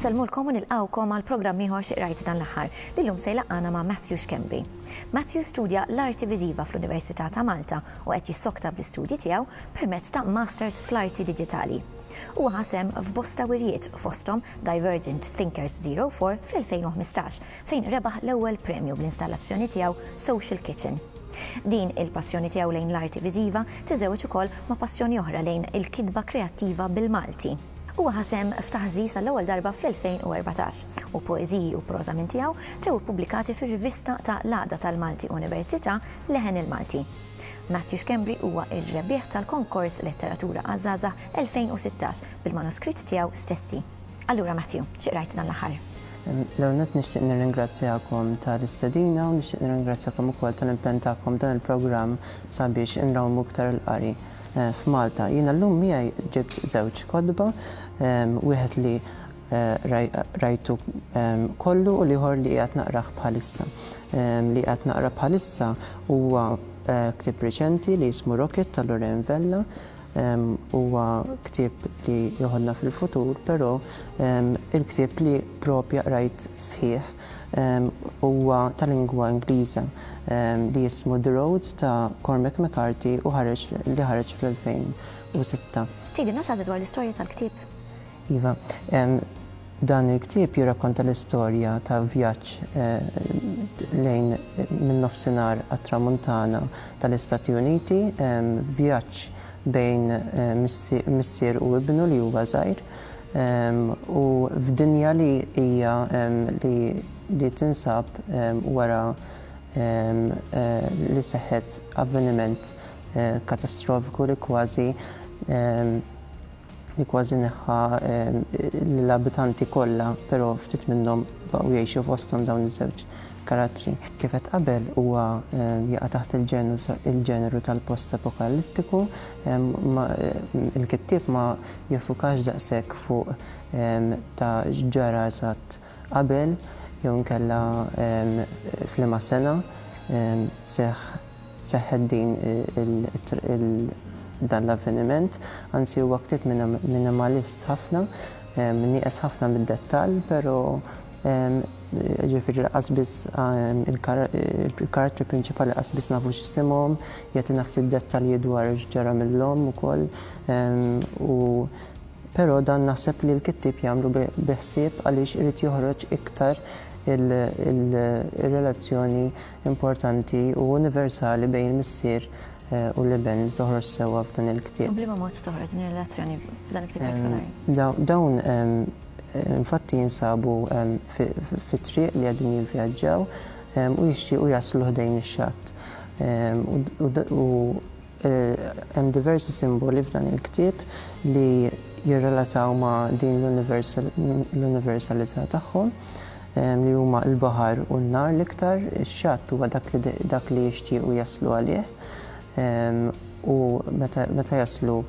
Insellmulkom u nilqgħukom għal programm ieħor xi qrajt dan l-aħħar li llum se jlaqqana ma' Matthew Schembri. Matthew studja l-Arti Viżiva fl-Università ta' Malta u qed jissokta bl-istudji tiegħu permezz ta' Masters fl-Arti Diġitali. Huwa ħa sehem f'bosta wirjiet, fosthom Divergent Thinkers Zero Four fl-2015, fejn rebaħ l-ewwel premju bl-installazzjoni tiegħu Social Kitchen. Din il-passjoni tiegħu lejn l-arti viżiva tiżżewweġ ukoll ma' passjoni oħra lejn il-kitba kreattiva bil-Malti. Huwa ħa sehem f'Taħżiż għall-ewwel darba fl-2014, u poeżiji u proża minn tiegħu ġew ippubblikati fir-rivista ta' l-għaqda tal-Malti Università, Leħen il-Malti. Matthew Schembri huwa r-rebbieħ tal-Konkors Letteratura għaż-Żgħażagħ 2016 bil-manuskritt tiegħu stessi. Allura Matthew, xi qrajt dan l-aħħar? L-ewwel nett nixtieq nirringrazzjakom tal-istedina u nixtieq nirringrazzjakom ukoll tal-impenn tagħkom f'dan il-programm sabiex inrawmu iktar il-qari f'Malta. Jiena llum miegħi ġibt żewġ kotba, wieħed li qrajtu kollu u l-ieħor li qiegħed naqrah bħalissa. li qed naqra bħalissa huwa ktieb reċenti li jismu Rocket ta' Lorraine Vella. Huwa ktieb li joħodna fil-futur, però il-ktieb li proprja qrajt sħiħ huwa ta' lingwa Ingliża li jismu The Road ta' Cormac McCarthy u ħareġ li ħareġ fl-2006. Tgħidilna xi ħaġa dwar l-istorja tal-ktieb? Iva, dan il-ktieb jirrakkonta l-istorja ta' vjaġġ lejn min-Nofsinhar għat-Tramuntana tal-Istati Uniti, vjaġġ bejn missier u ibnu li huwa żgħir, u f'dinja li hija li tinsab wara li seħħet avveniment katastrofiku li kważi li kważi neħħa lill-abitanti kollha, però ftit minnhom baqgħu jgħixu fosthom dawn iż-żewġ karattri. Kif għedt qabel, huwa jaqa' taħt il-ġeneru tal-postapokalittiku. Il-kittieb ma jiffukax daqshekk fuq ta' x'ġara eżatt qabel jew inkella f'liema sena seħħ seħħet din il dan l-avveniment. Anzi huwa ktieb minimalist ħafna, nieqes ħafna mid-dettall, però ġifieri lanqas biss il-karattri prinċipali lanqas biss nafu x'isimhom, jagħtina ftit dettalji dwar x'ġara mill-omm ukoll u Pero dan naħseb li l-kittieb jagħmlu bi ħsieb għaliex irid joħroġ iktar il-relazzjoni importanti u universali bejn il-missier u l-iben li toħroġ sewwa f'dan il-ktieb. U b'liema mod toħroġ din ir-relazzjoni f'dan il-ktieb partikolari? Dawn infatti jinsabu fit-triq li qegħdin jivvjaġġaw u jixtiequ jaslu ħdejn ix-xatt u Hemm diversi simboli f'dan il-ktieb li jirrelataw ma' din l-universalità tagħhom, li huma l-baħar u n-nar l-iktar. Ix-xatt huwa dak li jixtiequ jaslu għalih u meta jaslu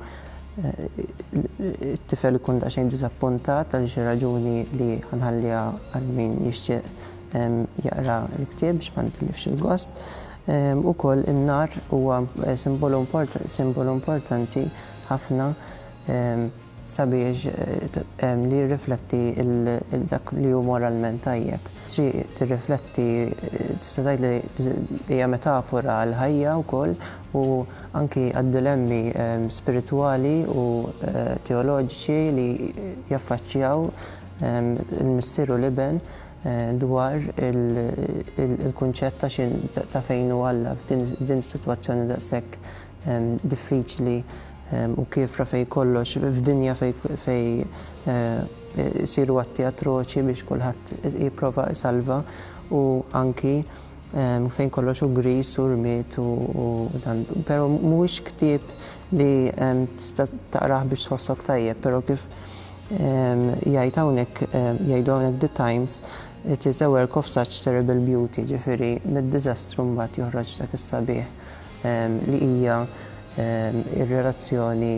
t-tifel ikun daqsxejn diżappuntat għal xi raġuni li ħa nħalliha għal min jixtieq jaqra l-ktieb biex ma nitilifx il-gost. Ukoll in-nar huwa simbolu importanti ħafna sabiex li jirrifletti dak li hu moralment tajjeb. Triq tirrifletti tista' tgħid li hija metafora għall-ħajja wkoll u anki għad-dilemmi spiritwali u teoloġiċi li jaffaċċjaw il-missier u l-iben. dwar il-kunċett ta' xi ta' fejn hu Alla f'din is-sitwazzjoni daqshekk diffiċli u kiefra fejn kollox f'dinja fejn isiru atti atroċi biex kulħadd jipprova isalva u anki fejn kollox hu griż u rmied u dan. Però mhuwiex ktieb li tista' taqrah biex tħossok tajjeb, però kif jgħid hawnhekk, jgħidu hawnhekk The Times, it is a work of such terrible beauty, jiġifieri mid-diżastru mbagħad joħroġ dak is-sabiħ li hija r-relazzjoni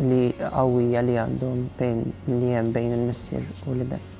li qawwija li għandhom bejn li hemm bejn il-missier u l-iben.